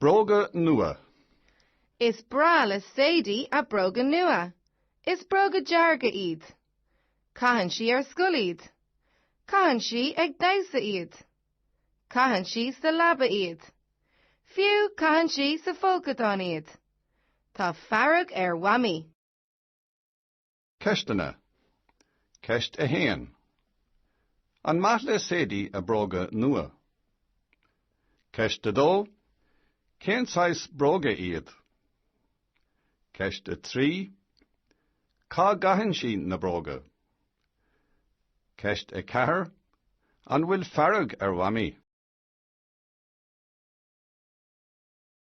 Bróga nua. Is breá le Sadie a bróga nua. Is bróga dearga iad. Caitheann sí ar scoil iad. Caitheann sí ag damhsa iad. Caitheann sí sa leaba iad. Fiú caitheann sí sa folcadán iad. Tá fearg ar Mhamaí. Ceisteanna. Ceist 1. An maith le Sadie a bróga nua? Ceist 2. Cén saghas bróga iad? Ceist 3. Cá gcaitheann sí na bróga? Ceist 4. An bhfuil fearg ar Mhamaí?